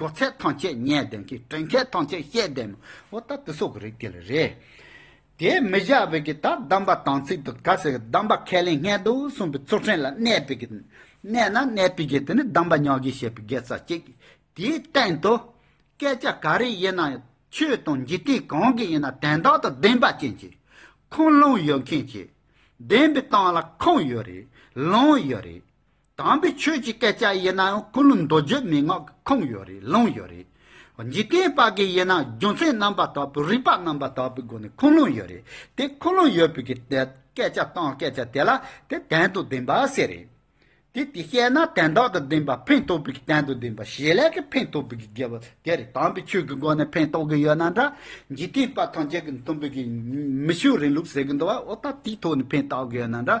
གོ་ཚད་ཐང་ཆད་བརྙས་ལྡན་གྱི་དྲན་མཁས་ཐང་ཆད་ཤེས་ལྡན་མོ་འོ་ད་དེ་སོག་གི་རིགས་དེ་ལ་རེད། དེ་མི་བཞག་བས་ཀྱི་ད་གདམས་པ་དང་ཚིག་ཏུ་ག་ཟེ་གི་གདམས་པ་ཁས་ལེན་སྔས་འདུག་གསུངས་པའི་ཚུར་ཕྲན་ལ་གནས་པས་ཀྱི། གནས་ན་གནས་པས་ཀྱི་དེ་ནི་གདམས་པ་ཉག་གིས་བཤད་པའི་དགེ་རྩ་གཅིག། དེའི་སྟེང་དུ། སྐད་ཆ་ག་རེ་ཡིན་ན་ཡང་ཆོས་དང་འཇིག་རྟེན་གང་གི་ཡིན་ན་དན་དག་དང་བདེན་པ་ཅན་གྱི། ཁུངས་ལུང་ཡོད་མཁན་གྱི། བདེན་པའི་སྟངས་ལ་ཁུངས་ཡོད་རེད་ལུང་ཡོད་རེད། དམ་པའི་ཆོས་ཀྱི་སྐད་ཆ་ཡིན་ནའང་ཀུན་སློང་མདོ་བརྗོད་མན་ངག་གི་ཁུངས་ཡོད་རེད་ལུང་ཡོད་རེད། འཇིག་རྟེན་པ་གི་ཡིན་ནའང་རྒྱུ་མཚན་རྣམ་པ་དག་པོས་རིགས་པ་རྣམ་པ་དག་པོའི་སྒོ་ནས་ཁུངས་སློང་ཡོད་རེད་དེ་ཁུངས་སློང་ཡོད་པའི་གི་དེ་སྐད་ཆ་སྟངས་སྐད་ཆ་དེ་ལ་དེ་དན་དུ་བདེན་པ་ཟེར་རེད་དེ་དེ་བཤད་ན་དན་དག་ཏུ་བདེན་པ་ཕན་ཐོག་པའི་གི་དན་དུ་བདེན་པ་ཞེས་ལས་གི་ཕན་ཐོག་པའི་གི་དགེ་བ་དེ་རེད་དམ་པའི་ཆོས་ཀྱི་སྒོ་ནས་ཕན་ཐོག་གི་ཡོད་ན་འདྲ་འཇིག་རྟེན་པ་ཐམས་ཅད་ཀྱི་མཐུན་པའི་གི་མི་ཆོས་རིང་ལུགས་ཟེར་གི་འདུག་བ་འོ་ད་དེའི་ཐོག་ནས་ཕན་ཐོག་གི་ཡོད་ན་འདྲ།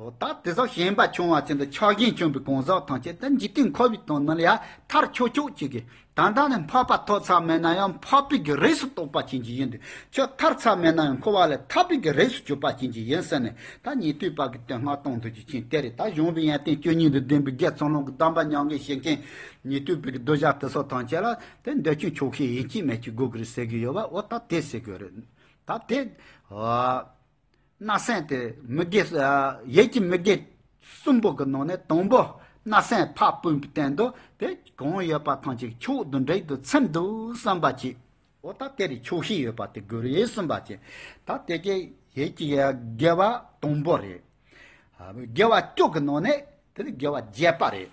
འོ་ད་དེ་སོགས་ཞེན་པ་ཆུང་བ་ཅན་དུ་ཆགས་ཞེན་ཆུང་པའི་གང་ཟག་ཐམས་ཅད་དུ་འཇིག་རྟེན་འཁོར་བའི་དོན་རྣམས་ཡང་མཐར་ཆོས་མཆོག་གཅིག་གིས་ད་ལྟ་ནས་འཕགས་པ་ཐོག་ཚ་མེད་ན་ཡང་འཕགས་པའི་གི་རིགས་སུ་གཏོགས་པ་ཅན་གྱི་ཡིན་དུས་ཆོས་མཐར་ཚ་མེད་ན་ཡང་འཁོར་བ་ལས་ཐར་པའི་གི་རིགས་སུ་གྱུར་པ་ཅན་གྱི་ཡིན་ཟེར་ནས་ད་ཉེ་དུས་བར་གྱི་དོན་སྔར་གཏོང་འདོད་ཀྱི་མཁན་དེ་རེད་ད་གཞུང་པའི་ཡན་བརྟེན་བཅུ་གཉིས་དང་ལྡན་པའི་རྒྱལ་ཚོགས་ལུང་གི་གདམས་པ་ཉམས་དགོས་ཞེས་མཁན་ཉེ་དུས་བར་གྱི་བསྡུ་བཞག་དེ་སོགས་ཐམས་ཅད་ལ་དེ་འདོད་ཆུང་ཆོག་ཤེས་ཡིན་གྱི་མེད་ཀྱི་དགོས་ཀྱི་རེད་ཟེར་གྱི་ཡོད་པ་འོ་ད་དེ་ཟེར་གྱི་རེད་ད་དེ། སྣ་སྲན་དེ་མི་དགེ། ཡས་ཀྱི་མི་དགེ། གསུམ་པོ་གི་ནང་ནས་དང་པོ། སྣ་སྲན་ཕག་སྤུན་པའི་སྟེང་དུ་དེ་གང་ཡོད་པ་ཐང་ཅིག་ཕྱོགས་བདུན་བྲེག་ཏུ་ཚིམ་དུ་བསམ་པ་གྱིས། འོ་ད་དེ་རུ་ཕྱོགས་བཞི་ཡོད་པ་དེ་དགུར་ཡས་གསུམ་པ་གྱིས། ད་དེ་གའི་ཡས་ཀྱི་དགེ་བ་དང་པོ་རེད། དགེ་བ་བཅུ་གི་ནང་ནས་དེ་དགེ་བ་བརྒྱད་པ་རེད།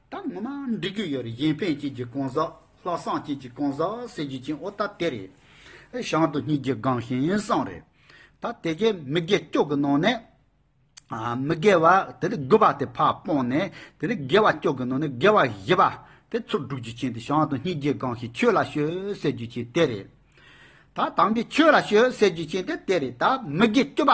ད་ངོ་མ་འབྲི་རྒྱུ་ཡོད་རེད་གཞན་ཕན་སྐྱིད་ཀྱི་གང་ཟག་ལྷག་བསམ་སྐྱིད་ཀྱི་གང་ཟག་ཟེར་རྒྱུ་ཅན་ཨོ་ད་དེ་རེད། བྱང་དུ་གཉིས་ཀྱི་སྒང་ཞིང་བསང་རེད། ད་དེ་གས་མི་དགེ་སྐྱོ་གི་ནང་ནས། མི་དགེ་བ་དེ་རིགས་དགོས་པ་དེ་ཕ་སྤོང་ནས་དེ་རིགས་དགེ་བ་སྐྱོ་གི་ནང་ནས་དགེ་བ་བཞི་པ་དེ་ཚུར་སྒྲུག་རྒྱུ་ཅན་དེ་བྱང་དུ་གཉིས་ཀྱི་སྒང་ཞིང་ཁྱོད་ལ་ཤོད་ཟེར་རྒྱུ་ཅན་དེ་རེད། ད་དམ་པའི་ཁྱོད་ལ་ཤོད་ཟེར་རྒྱུ་ཅན་དེ་དེ་རེད་ད་མི་དགེ་སྐྱོ་པ།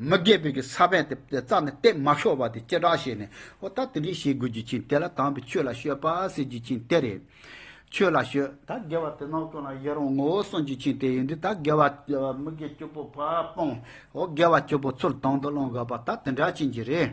མི་དགེ་བོ་གི་ས་བོན་དེ་རྩ་ནས་གཏད་མ་ཤོར་བ་དེ་ཅི་དྲག་བྱས་ནས་ཨོ་ད་དེ་འདྲས་བྱེད་དགོས་རྒྱུ་ཅན་དེ་ལ་དམ་པའི་ཆོས་ལ་བཤོད་པ་ཟེར་རྒྱུ་ཅན་དེ་རེད། ཆོས་ལ་བཤོད། ད་དགེ་བ་དེ་ནང་དོན་ལ་ཡི་རང་ངོ་བོ་གསུངས་རྒྱུ་ཅན་དེ་ཡིན་དུས་ད་དགེ་བ། མི་དགེ་སྐྱོ་པོ་བ་སྤང། ཨོ་དགེ་བ་སྐྱོ་པོ་ཚུར་དང་དུ་བླང་དགོས་པ་ད་དེ་འདྲ་བྱེད་རྒྱུ་རེད།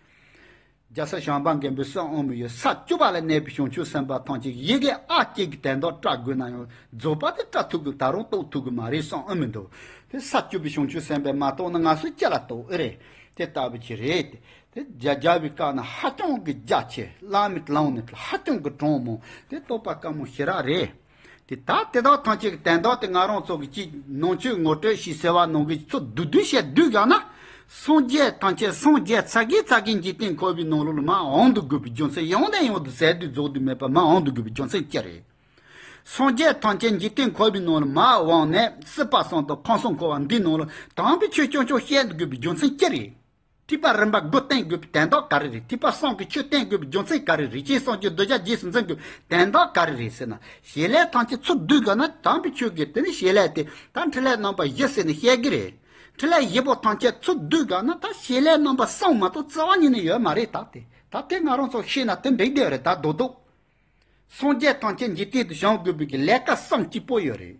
རྒྱལ་སྲས་ཞང་པ་མཁན་པོའི་སྲས་དབང་མོ་ཡིས་ས་བཅུ་པ་ལ་གནས་པའི་བྱང་ཆུབ་སེམས་དཔའ་ཐམས་ཅད་ཡི་གེ་ཨ་གཅིག་གིས་དད་འདག་སྐྲག་དགོས་ན་ཡང་རྫོགས་པ་དེ་སྐྲག་ཐུབ་དགོས་ད་རུང་རྟོགས་ཐུབ་གི་མ་རེད་བསམ་ཨེ་མི་འདུག་དེ་ས་བཅུ་པའི་བྱང་ཆུབ་སེམས་དཔའ་མ་རྟོགས་ན་ང་ཚོ་ཅི་ལ་རྟོགས་ཨེ་རེད་དེ་ལྟ་བུ་ཅིག་རེད་དེ། དེ་རྒྱ་བའི་བཀའ་ནི་ཧ་ཅང་གི་རྒྱ་ཆེ་བླ་མའི་ལམ་ནི་ཧ་ཅང་གི་གྲངས་མང་དེ་རྟོགས་པ་དཀའ་མོ་ཞེ་རག་རེད། དེ་ད་དེ་དག་ཐམས་ཅད་ཀྱི་དན་རྟགས་དེ་ང་རང་ཚོ་གི་ཅིག་ནང་ཆོས་ངོ་སྤྲོད་ཞེས་ཟེར་བ་ནང་གི་ཚོ་བསྡུ་བསྡུ་བྱས་བསྡུས་བཞག་ན། སངས་རྒྱས་ཐམས་ཅད་སངས་རྒྱས་ཚ་གེ་ཚ་གེ་འཇིག་རྟེན་འཁོར་བའི་ནང་ལོགས་ལ་མ་འོངས་དུ་དགོས་པའི་རྒྱུ་མཚན་ཡང་ནས་ཡང་དུ་ཟེར་དུས་རྫོགས་དུས་མེད་པ་མ་འོངས་དུ་དགོས་པའི་རྒྱུ་མཚན་ཅི་རེད། སངས་རྒྱས་ཐམས་ཅད་འཇིག་རྟེན་འཁོར་བའི་ནང་ལ་མ་འོངས་ནས་སྲིད་པ་སངས་དང་ཁམས་སངས་འཁོར་བ་འདིའི་ནང་ལ་དམ་པའི་ཆོས་ཆུང་ཆུང་བཤད་དགོས་པའི་རྒྱུ་མཚན་ཅི་རེད། ཐིགས་པ་རིམ་པ་དགུ་བསྟན་དགོས་པའི་དན་རྟགས་ག་རེ་རེད་ཐིགས་པ་གསང་གི་ཆོས་བསྟན་དགོས་པའི་རྒྱུ་མཚན་ག་རེ་རེད་སྤྱན་གསང་ཆོས་བསྡུ་བྱ་རྗེས་སུ་འཛིན་དགོས་པའི་དན་རྟགས་ག་རེ་རེད་ཟེར་ན་ཞེས་ལས་ཐམས་ཅད་ཚུར་བསྡུས་དགོས་ན་དམ་པའི་ཆོས་དགོས་དེ་ནི་ཞེས་ལས་དེ་ད་འཕྲིན་ལས་རྣམ་པ་བཞི་ཟེར་ནས་བཤད་གི་རེད་འཕྲིན་ལས་བཞི་པོ་ཐམས་ཅད་ཚུར་བསྡུས་དགོས་ན་ད་ཞེས་ལས་རྣམ་པ་གསང་མ་གཏོགས་རྩ་བ་ཉིད་ནས་ཡོད་མ་རེད་ད་དེ་ད་དེ་ང་རང་ཚོ་ཤེས་ན་དེ་འགྲིག་བསྡད་རེད་ད་རྡོ་རྡོ་སངས་རྒྱས་ཐམས་ཅད་འཇིག་རྟེན་དུ་བྱང་དགོས་པའི་ལས་ཀ་གསང་གཅིག་པོ་ཡོད་རེད།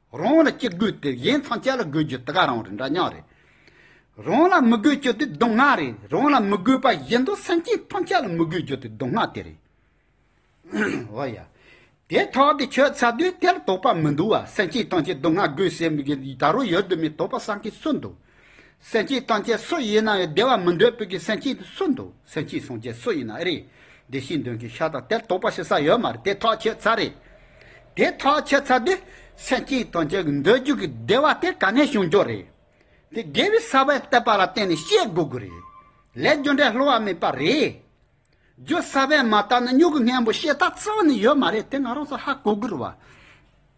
རང་ལ་ཅི་དགོས་དེ་གཞན་ཐམས་ཅད་ལ་དགོས་རྒྱུ་དེ་ག་རང་རེད་འདྲ་མཉམ་རེད། རང་ལ་མི་དགོས་རྒྱུ་དེ་སྡུག་བསྔལ་རེད་རང་ལ་མི་དགོས་པ་གཞན་དུ་སེམས་ཅན་ཐམས་ཅད་ལ་མི་དགོས་རྒྱུ་དེ་སྡུག་བསྔལ་དེ་རེད། འོ་ཡ། དེ་ཐོག་དེ་ཁྱོད་ཚ་དུས་དེར་དོགས་པ་མི་འདུག་བ་སེམས་ཅན་ཐམས་ཅད་སྡུག་བསྔལ་དགོས་ཟེར་མི་དགོས་ད་རུང་ཡོད་དུ་མེད་དོགས་པ་སངས་ཀྱི་སུ་འདུག། སེམས་སྐྱིད་བཏང་ཆད་སུ་ཡིན་ནའང་བདེ་བ་མི་འདོད་བོད་ཀྱི་སེམས་སྐྱིད་སུ་འདུག་སེམས་སྐྱིད་སྲུང་ཆད་སུ་ཡིན་ནའང་རེད། བདེ་སྐྱིད་འདོན་མཁན་ཤ་དང་དལ་དོག་པ་ཞིག་ས་ཡོད་མ་རེད་དེ་ཐག་ཆོད་ཚར་རེད། དེ་ཐག་ཆོད་ཚར་དུས་སེམས་སྐྱིད་བཏང་ཆད་འདོད་རྒྱུ་གི་བདེ་བ་དེ་ག་ནས་བྱུང་རྒྱུ་རེད། དེ་དགེ་བའི་ས་བོན་བསྟན་པ་ལ་བརྟེན་ནས་ཤེས་དགོས་རྒྱུ་རེད། ལས་རྒྱུ་འབྲས་སླུ་བ་མེད་པ་རེད། རྒྱུ་ས་བོན་མ་བརྟག་ན་སྨྱུ་གུ་སྔན་པོ་ཤེས་ཐག་ཚང་ནས་ཡོད་མ་རེད་དེ་ང་རང་ཚོ་ཧ་གོ་དགོས་རེད་བ།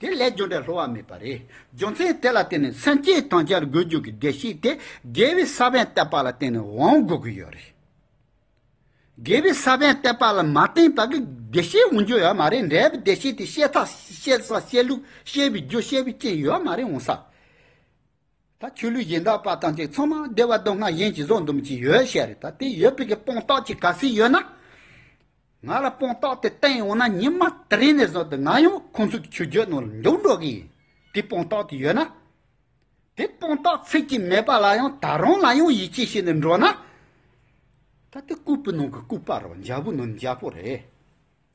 དེ་ལས་སྦྱོར་འབྲས་ལྷོ་བ་མེད་པ་རེད། རྒྱུ་མཚན་དེ་ལ་བརྟེན་ནས་སེམས་བསྐྱེད་དང་སྦྱར་དགོས་རྒྱུ་གི་བདེ་གཤེགས་དེ་དགེ་བའི་ས་བོན་བཏབ་པ་ལ་བརྟེན་ནས་དབང་དགོས་ཀྱི་ཡོད་རེད། དགེ་བའི་ས་བོན་བཏབ་པ་ལ་མ་བརྟེན་པར་བདེ་གཤེགས་འོང་རྒྱུ་ཡོད་མ་རེད་འབྲས་བུ་བདེ་གཤེགས་དེ་བཤད་ཐབས་བཤད་ས་བཤད་ལུགས་བཤད་པའི་རྒྱུ་བཤད་པའི་རྐྱེན་ཡོད་མ་རེད་འོང་ས་ད་ཆོས་ལུགས་གཞན་དག་པ་ཐམས་ཅད་ཚང་མ་བདེ་བ་སྡུག་བསྔལ་གཞན་གྱིས་བཟོ་འདུམ་གྱིས་ཡོད་བཤད་རེད་ད་དེ་ཡོད་པའི་གི་སྤོང་རྟགས་ཀྱི་ག་ཟེ་ཡོད་ན། ང་ལ་སྤོང་རྟགས་དེ་བསྟན་ཡོང་ན་ཉིན་མ་དེ་རིང་ནས་བཟུང་སྟེ་ང་ཡང་ཁོང་ཚོའི་གི་ཆོས་བརྒྱུད་ནང་ལ་འཇོག་འགྲོ་གི་ཡིན་དེ་སྤོང་རྟགས་དེ་ཡོད་ན། དེ་སྤོང་རྟགས་ཚིག་གཅིག་མེད་པ་ལ་ཡང་ད་རང་ལ་ཡང་ཡིད་ཆེས་བྱེད་ནས་འགྲོ་ན། ད་དེ་ལྐུགས་པའི་ནང་གི་ལྐུགས་པ་རོ་འཇའ་བོའི་ནང་ནས་འཇའ་བོ་རེད།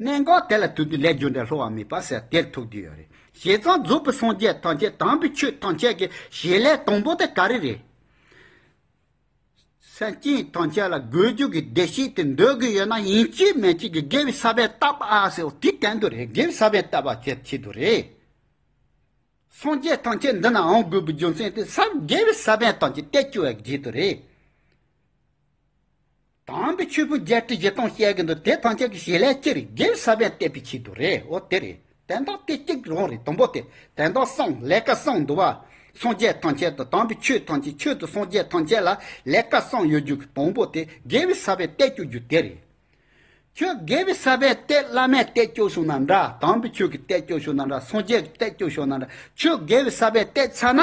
གནད་འགག་དེ་ལ་ཐུག་དུས་ལས་སྦྱོར་འདྲ་སློ་བ་མེད་པ་ཟེར་དེར་ཐུག་དུས་ཡོད་རེད་བྱས་ཙང་རྫོགས་པའི་སངས་རྒྱས་ཐམས་ཅད་དམ་པའི་ཆོས་ཐམས་ཅད་ཀྱི་ཞེས་ལས་དང་པོ་དེ་ག་རེ་རེད། སེམས་ཅན་ཐམས་ཅད་ལ་དགོས་རྒྱུ་གི་བདེ་གཤེགས་དེ་འདོད་གི་ཡོད་ན་ཡིན་གཅིག་མེད་གཅིག་གི་དགེ་བའི་ས་པའི་བཏགས་པ་ཨ་ཟེར་དེ་གན་དུ་རེད་དགེ་བའི་ས་པའི་བཏགས་པ་བྱེད་ཆེད་དུ་རེད། སངས་རྒྱས་ཐམས་ཅད་འདི་ནའང་དགོས་པའི་རྒྱུ་མཚན་དེ་ས་དགེ་བའི་ས་པའི་ཐམས་ཅད་སྟེ་བཅུ་བའི་རྗེས་དུ་རེད། དམ་པའི་ཆོས་ཕུད་བརྒྱད་ཁྲི་བཞི་སྟོང་བཤད་ཀྱི་འདུག་དེ་ཐམས་ཅད་ཀྱི་ཞལ་ལས་ཅིར་རྒྱལ་ས་པན་གཏད་པའི་ཆེད་དུ་རེད་འོ་དེ་རེད་དན་རྟགས་དེ་གཅིག་རང་རེད་དང་པོ་དེ་དན་རྟགས་སངས་ལས་ཀ་སངས་འདུག་བ། སངས་རྒྱས་ཐམས་ཅད་དུ་དམ་པའི་ཆོས་ཐམས་ཅད་ཆོས་དུ་སངས་རྒྱས་ཐམས་ཅད་ལ་ལས་ཀ་སངས་ཡོད་རྒྱུ་གི་དང་པོ་དེ་རྒྱལ་བའི་ས་པན་གཏད་བཅུག་རྒྱུ་དེ་རེད། ཁྱོད་རྒྱལ་བའི་ས་པན་གཏད་བླ་མས་གཏད་བཅུག་སོང་ན་འདྲ་དམ་པའི་ཆོས་ཀྱི་གཏད་བཅུག་ཤོག་ན་འདྲ་སངས་རྒྱས་ཀྱི་གཏད་བཅུག་ཤོག་ན་འདྲ་ཁྱོད་རྒྱལ་བའི་ས་པན་གཏད་ཚར་ན།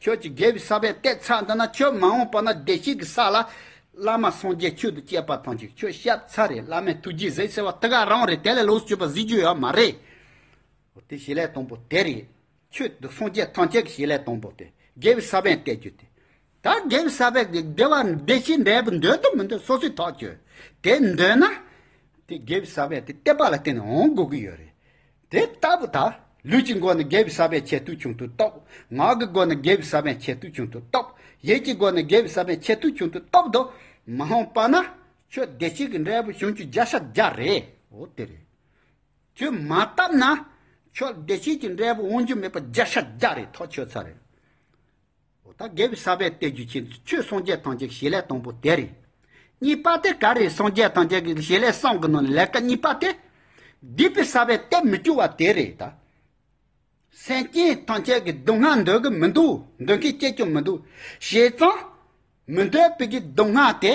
ཁྱོད་ཀྱིས་རྒྱལ་བའི་ས་བོན་གཏད་ཚར་འདུག་ན་ཁྱོད་མ་འོངས་པ་ན་བདེ་སྐྱིད་ཀྱི་ས་ལ། བླ་མ་སངས་རྒྱས་ཁྱོད་དང་བཅས་པ་ཐོན་ཅིག་ཁྱོད་ཤབ་ཚ་རེད་བླ་མས་ཐུགས་རྗེས་གཟིགས་ཟེར་བ་དེ་ག་རང་རེད་དེ་ལས་ལོགས་སུ་སྤྱོད་པ་གཟིགས་རྒྱུ་ཡོད་མ་རེད། འོ་དེ་བྱེད་ལས་དང་པོ་དེ་རེད། ཁྱོད་དང་སངས་རྒྱས་ཐམས་ཅད་ཀྱི་བྱེད་ལས་དང་པོ་དེ་རྒྱལ་བའི་ས་བོན་གཏད་རྒྱུ་དེ། ད་རྒྱལ་བའི་ས་བོན་གྱིས་བདེ་བ་བདེ་སྐྱིད་འབྲས་བུ་འདོད་དམ་མི་འདོད་སོ་སོའི་ཐག་གཅོད། དེ་འདོད་ན། དེ་རྒྱལ་བའི་ས་བོན་དེ་གཏད་པ་ལ་བརྟེན་ནས་འོང་དགོས་ཀྱི་ཡོད་རེད། དེ་ལྟ་བུ་དག་ལུས་ཀྱི་སྒོ་ནས་དགེ་བའི་ས་པའི་ཆེད་དུ་བྱུང་དུ་གཏོགས། ངག་གི་སྒོ་ནས་དགེ་བའི་ས་པའི་ཆེད་དུ་བྱུང་དུ་གཏོགས། ཡིད་ཀྱི་སྒོ་ནས་དགེ་བའི་ས་པའི་ཆེད་དུ་བྱུང་དུ་གཏོགས་ཏོ། མ་འོངས་པ་ན་ཁྱོད་བདེ་སྐྱིད་ཀྱི་འབྲས་བུ་བྱུང་ཆུ་བརྒྱ་ཤ་བརྒྱ་རེའོ། དེ་རེད། ཁྱོད་མ་བཏབ་ན་ཁྱོད་བདེ་སྐྱིད་ཀྱི་འབྲས་བུ་འོང་རྒྱུ་མེད་པ་བརྒྱ་ཤ་བརྒྱ་རེ་ཐོག་ཆོད་ཚར་རེད། འོ་ད་གེ་བའི་ས་པའི་སྟེ་རྒྱུ་ཆེན་དུ་ཆོས་སངས་རྒྱས་ཐམས་ཅད་ཀྱི་བྱེད་ལས་དང་པོ་དེ་རེད། གཉིས་པ་དེ་ག་རེད་སངས་རྒྱས་ཐམས་ཅད་ཀྱི་བྱེད་ལས་གསང་གི་ནང་ནས་ལས་ཀ་གཉིས་པ་དེ། སྡིག་པའི་ས་པའི་སྟེ་མི་སྐྱོ་བ་དེ་རེད་ད། སེམས་ཅན་ཐམས་ཅད་ཀྱི་སྡུག་བསྔལ་འདོད་གི་མི་འདུག་འདོད་མཁན་སྐྱེས་ཀྱང་མི་འདུག་བྱས་ཙང། མི་འདོད་པའི་སྡུག་བསྔལ་དེ།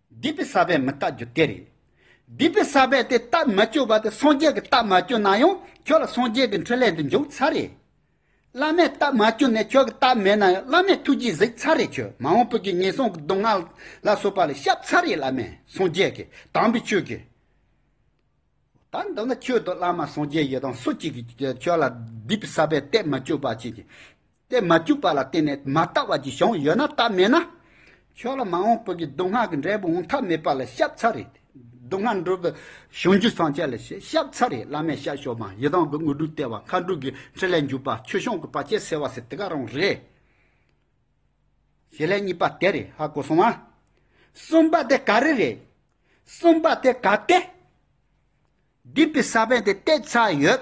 སྡིག་པའི་ས་པས་མི་རྟག་རྒྱུ་དེ་རེད། སྡིག་པའི་ས་པས་དེ་རྟགས་མ་བཅོས་པ་དེ་སངས་རྒྱས་ཀྱི་རྟགས་མ་བཅོས་ན་ཡང་ཁྱོད་ལ་སངས་རྒྱས་ཀྱི་འཕྲིན་ལས་འདི་འཇུག་ཚར་རེད། བླ་མས་རྟགས་མ་བཅོས་ནས་ཁྱོད་ཀྱི་རྟགས་མེད་ན་ཡང་བླ་མས་ཐུགས་རྗེས་གཟིགས་ཚར་རེད་ཁྱོད་མ་འོངས་བོད་ཀྱི་ངན་སོང་གི་སྡུག་བསྔལ་ལ་སོགས་པ་ལས་བཤགས་ཚར་རེད་བླ་མས་སངས་རྒྱས་ཀྱི་དམ་པའི་ཆོས་ཀྱི། ད་འདི་ན་ཁྱོད་དང་བླ་མ་སངས་རྒྱས་ཡོད་དམ་སུ་གཅིག་གིས་ཁྱོད་ལ་སྡིག་པའི་ས་པས་རྟགས་མ་བཅོས་པ་བྱེད་ཀྱི། རྟེན་མ་བཅུག་པ་ལ་བརྟེན་ནས་མ་བརྟགས་བར་གྱི་གཞུང་ཡོད་ན་བརྟགས་མེད་ན། ཁྱོད་ལ་མ་འོངས་བོད་ཀྱི་སྡུག་བསྔལ་གྱི་འབྲས་བུ་འོང་ཐབས་མེད་པ་ལ་ཤབ་ཚ་རེད། སྡུག་བསྔལ་འགྲོ་བའི་གཞུང་རྒྱུད་སྲོང་བཅས་ལ་ཞེས་ཤབ་ཚ་རེད་བླ་མས་ཤར་ཕྱོགས་མ་ཡི་དྭགས་ཀྱི་དངོས་གྲུབ་སྟེར་བ་མཁའ་འགྲོ་གྱི་ཁྲི་ལས་འཇུག་པ་ཆོས་སྐྱོང་གི་བར་ཆད་སེལ་བ་སྲིད་དེ་ག་རང་རེད། ཞེས་ལན་གཉིས་པ་དེ་རེད་ཧ་གོ་སོང་ཨ། གསུམ་པ་དེ་ག་རེ་རེད། གསུམ་པ་དེ་ག་སྟེ། སྡིག་པའི་ས་བོན་དེ་སྟེར་ཚར་ཡོད།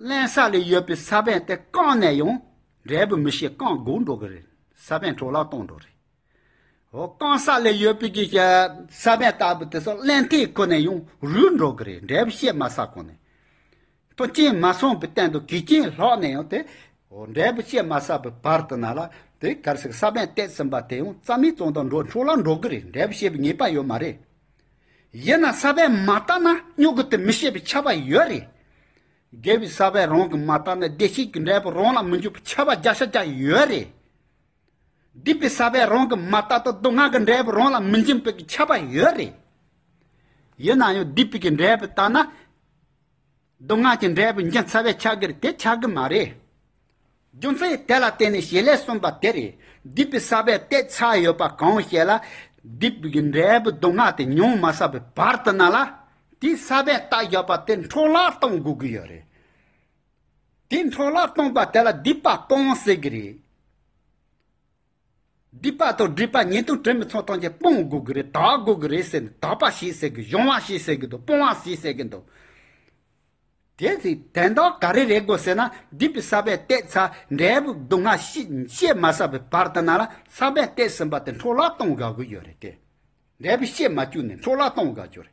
བརླན་ས་ལས་ཡོད་པའི་ས་བོན་དེ་བཀང་ནས་ཡང་འབྲས་བུ་མི་ཤེས་བཀང་དགོས་འགྲོ་གི་རེད། ས་བོན་འཕྲོ་བརླག་གཏོང་འགྲོ་རེད། ཨོ་བཀང་ས་ལས་ཡོད་པའི་གི་ས་བོན་ལྟ་བུ་དེ་ཚོ་བརླན་སྟེ་ཁོ་ནས་ཡང་རུལ་འགྲོ་གི་རེད་འབྲས་བུ་ཤེས་མ་ས་གོང་ནས། ཐོ་རྐྱེན་མ་སོང་པའི་སྟེང་དུ་གི་རྐྱེན་ལྷག་ནས་ཡང་དེ། ཨོ་འབྲས་བུ་ཤེས་མ་ས་པའི་བར་དུ་ན་ལ་དེ་གར་ཞིག་ས་བོན་བཏེགས་ཟིན་པ་དེ་ཡང་རྩ་མེད་ཙང་དང་འགྲོ་འཕྲོ་བརླག་འགྲོ་གི་རེད་འབྲས་བུ་ཤེས་པའི་ངེས་པ་ཡོད་མ་རེད། ཡིན་ན་ས་པས་མ་བརྟགས་ན་སྨྱུ་གུ་དེ་མི་ཤེས་པའི་ཁྱབ་པ་ཡོད་རེད། དགེ་བའི་ས་པས་རང་གི་མ་བརྟགས་ན་བདེ་སྐྱིད་ཀྱི་འབྲས་བུ་རང་ལ་མི་འཇུག་པའི་ཁྱབ་པ་བརྒྱ་ཆ་བརྒྱ་ཡོད་རེད། སྡིག་པའི་ས་པས་རང་གི་མ་བརྟགས་ཐོག་སྡུག་བསྔལ་གྱི་འབྲས་བུ་རང་ལ་མི་འབྱིན་པའི་ཁྱབ་པ་ཡོད་རེད། ཡིན་ན་ཡང་སྡིག་པའི་འབྲས་བུ་བརྟགས་ན། མདོ་སྔགས་ཀྱི་འབྲས་བུ་འབྱིན་ཚར་བའི་ཕྱག་རྒྱར་དེ་ཆགས་ཀྱི་མ་རེད། རྒྱུ་མཚན་དེ་ལ་བརྟེན་ནས་ཞེས་ལས་གསུངས་པ་དེ་རེད། སྡིག་པའི་ས་པའི་ལྟས་ཆགས་ཡོད་པ་གང་ཞེས་ལ། སྡིག་པའི་འབྲས་བུ་མདོ་སྔགས་དེ་ཉུང་མ་བསགས་པའི་བར་དུ་ན་ལ། དེའི་ས་པའི་རྟགས་བཞག་པ་དེ་འཕྲོ་བརླག་གཏོང་དགོས་ཀྱི་ཡོད་རེད། དེ་འཕྲོ་བརླག་གཏོང་པ་དེ་ལ་སྡིག་པ་སྤོང་ཟེར་གྱི་རེད། སྡིག་པ་དང་སྒྲིབ་པ་ཉེས་ལྟུང་དྲི་མི་ཚོགས་དང་བཅས་སྤོང་དགོས་ཀྱི་རེད་དག་དགོས་ཀྱི་རེད་ཟེར་ནས་དག་པ་ཞེས་ཟེར་གི་གཞུང་བ་ཞེས་ཟེར་གི་འདུག་སྤོང་བ་ཞེས་ཟེར་གི་འདུག་དེ་ཚོས་དན་དག་ག་རེ་རེད་དགོས་ཟེར་ན་སྡིག་པའི་ས་པའི་སྟེགས་ཚ་འབྲས་བུ་སྡུག་བསྔལ་གཤེད་མ་ས་པའི་བར་དུ་ན་ལ་ས་པའི་སྟེགས་ཟིན་པ་དེ་འཕྲོ་བརླག་གཏོང་དགའ་གི་ཡོད་རེད་དེ། འབྲས་བུ་གཤེད་མ་བཅུག་ནས་འཕྲོ་བརླག་གཏོང་དགའ་གྱི་རེད།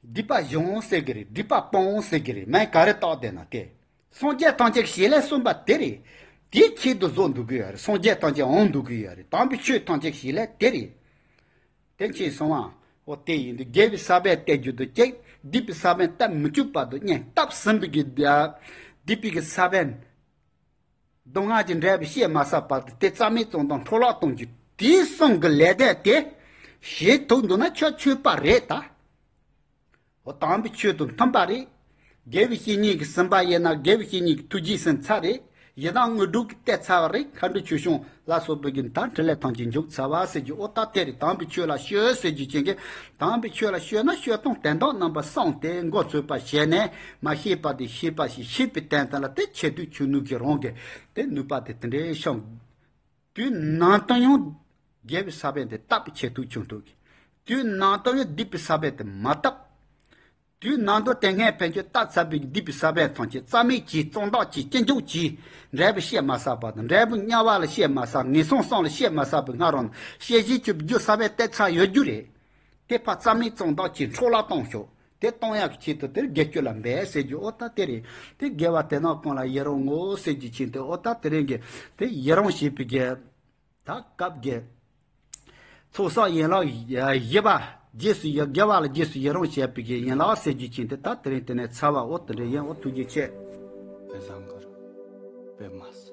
སྒྲིབ་པ་གཞོམ་འོང་ཟེར་གི་རེད་སྒྲིབ་པ་སྤོང་འོང་ཟེར་གི་རེད་མན་ག་རེ་རྟོགས་བསྡད་ན་དེ། སངས་རྒྱས་ཐམས་ཅད་ཞེས་ལན་གསུངས་པ་དེ་རེད། དེའི་ཁྱད་དུ་བཟོ་འདུག་གི་ཡོད་རེད་སངས་རྒྱས་ཐམས་ཅད་འོང་འདུག་གི་ཡོད་རེད་དམ་པའི་ཆོས་ཐམས་ཅད་ཞེས་ལན་དེ་རེད། དེ་མཁྱེན་སོང་ང། ཨོ་དེ་ཡིན་དུས་རྒྱལ་བའི་ས་པན་གཏད་རྒྱུ་དུ་སྐྱེགས་སྡིག་པའི་ས་པན་གཏད་མི་བཅུག་པ་དུ་གཉེན་བཏབ་ཟིན་པའི་གི། སྡིག་པའི་གི་ས་པན། མདོ་སྔགས་ཀྱི་འགྲེལ་པའི་བཤད་མ་བསགས་བར་དུ་དེ་རྩ་མེད་གཏོང་དང་འཕྲོ་བརླག་གཏོང་རྒྱུ་དེའི་གསུང་གི་ལས་འབྲས་ཏེ། ཞེས་དོགས་འདུག་ན་ཁྱོད་ཆོས་པ་རེད་ད། འོ་དམ་པའི་ཆོས་དང་མཐུན་པ་རེད། དགེ་བའི་བཤེས་གཉེན་གྱི་སེམས་པ་དབྱེ་ན་དགེ་བའི་བཤེས་གཉེན་གྱི་ཐུགས་རྗེའི་སེམས་ཚ་རེད། ཡི་དམ་དངོས་གྲུབ་ཀྱི་ལྟས་ཚ་བ་རེད་མཁའ་འགྲོའི་ཆོས་སྐྱོང་ལ་སོགས་བོད་ཀྱི་མཐའ་འཕྲིན་ལས་ཐང་ཅིག་འཇུག་ཚར་བ་ཟེར་གྱི་ཨོ་ད་དེ་རེད་དམ་པའི་ཆོས་ལ་ཤོད་ཟེར་གྱི་བྱིན་གྱིས་དམ་པའི་ཆོས་ལ་ཤོད་ན་ཤོད་སྟངས་དན་རྟགས་རྣམ་པ་གསང་སྟེ་མགོ་ཚོས་པ་བྱས་ནས་མ་ཤེས་པ་དེ་ཤེས་པ་ཞིག་ཤེས་པའི་དན་ཚན་ལ་དེ་ཆེད་དུ་ཆོས་ནུས་ཀྱི་རང་གི་དེ་ནུས་པ་དེ་དེ་འདྲའི་ཤོང། དུས་ནང་དུ་ཡང་རྒྱལ་བའི་ས་བོན་དེ་བཏབ་པའི་ཆེད་དུ་ཆོས་མཐུན་གྱི་དུས་ནང་དུ་ཡང་སྡིག་པའི་ས་བོན་དེ་མ་བཏབ། དུས་ནང་དུ་དེ་སྔའི་བོན་ཆོས་ལྟ་ཚར་བའི་བསྡུས་པའི་ས་བོན་ཐང་ཆེན་རྩ་མེད་ཀྱིས་གཙང་དག་ཅིང་སྐྱེ་འཇུག་ཅིང་འབྲས་བུ་བཤད་མ་ཟག་པ་དང་འབྲས་བུ་དམྱལ་བ་ལ་བཤད་མ་ཟག་ངན་སོང་སངས་ལ་བཤད་མ་ཟག་པའི་སྔ་རོལ་ན་ཤེས་བཞིན་ཆུབ་རྒྱུ་ས་བོན་གཏད་ཚར་ཡོད་རྒྱུ་རེད། དེ་ཕར་རྩ་མེད་གཙང་དག་ཅིང་འཕྲོ་བརླག་གཏོང་ཤོག་དེ་གཏོང་ཡག་གི་ཆེད་དུ་དེར་དགེ་སྐྱོ་ལ་འབད་ཟེར་རྒྱུ་ཨོ་ད་དེ་རེད་དེ་དགེ་བ་དེ་ནག་གང་ལ་ཡི་རང་ངོ་ཟེར་རྒྱུ་ཆེད་དུ་ཨོ་ད་དེ་རེད་དགེ་དེ་ཡི་རང་བྱེད་པའི་དགེ། ད་སྐབས་དགེ། ཚོགས་བསགས་ཡན་ལག་བཞི་པ། རྗེས་སུ་ཡི་དགེ་བ་ལ་རྗེས་སུ་ཡི་རང་བྱས་པའི་ཡན་ལག་གསེར་གྱི་ཆིངས་ཏེ་ད་དེ་རིང་དེ་ནས་ཚར་བ་འོ་དོ་འདྲའི་ཡན་འོ་ཐུགས་རྗེ་ཆེ། བའི་བཟང་གི་རུ། པདྨ་སི།